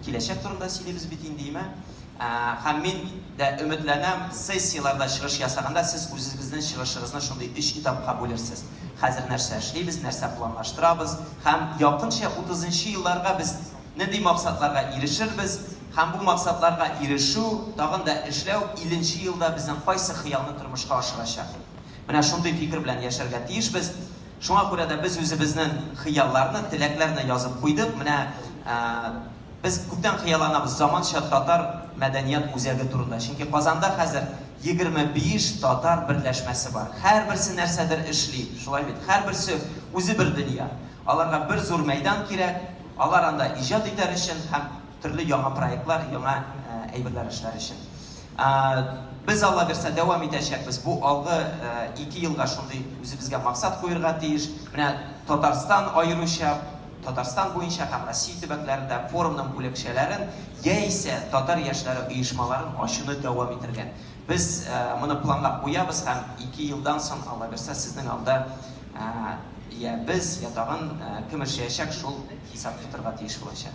Киләчәк турында сөйлибез бит инде, имә. Ә, һәм мин дә өметләнәм, сессияләрдә чыгыш ясаганда сез үзегезнең чыгышыгызны шундый өч этапка бүлерсез. Хәзер нәрсә эшлибез, нәрсә планлаштырабыз һәм якынча утызынчы елларга без нинди максатларга ирешербез һәм бу максатларга ирешү, тагын да эшләү илленче елда безнең кайсы хыялны тормышка ашырачак? Менә шундый фикер белән яшәргә тиешбез. Шуңа күрә дә без үзебезнең хыялларны, теләкләрне язып куйдык. Менә без күптән хыялланабыз заманча татар мәдәният үзәге турында. Чөнки Казанда хәзер 25 татар берләшмәсе бар. Һәрберсе нәрсәдер эшли, шулай бит? Һәрберсе үзе бер дөнья. Аларга бер зур мәйдан кирәк, алар анда иҗат итәр өчен һәм төрле яңа проектлар, яңа әйберләр эшләр өчен. Без, Алла бирсә, дәвам итәчәкбез. Бу алгы ике елга шундый үзебезгә максат куерга тиеш. Менә Татарстан аеруча, Татарстан буенча һәм Россия төбәкләрендә форумның бүлекчәләрен яисә татар яшьләре оешмаларын ачуны дәвам итергә. Без моны планлап куябыз һәм ике елдан соң, Алла бирсә, сезнең алда йә без, йә тагын кем эшләячәк, шул хисап тотарга тиеш булачак.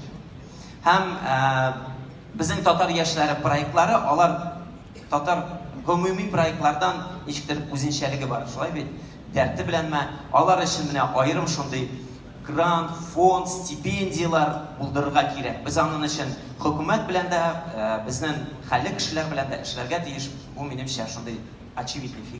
Һәм. Безнең татар яшьләре проектлары, алар татар гомуми проектлардан ничектер үзенчәлеге бар, шулай бит? Дәрте беләнме, алар өчен менә аерым шундый грант, фонд, стипендияләр булдырырга кирәк. Без анын өчен хөкүмәт белән дә, безнен хәлле кешеләр белән дә эшләргә тиеш. Бу минемчә шундый очевидный фикер.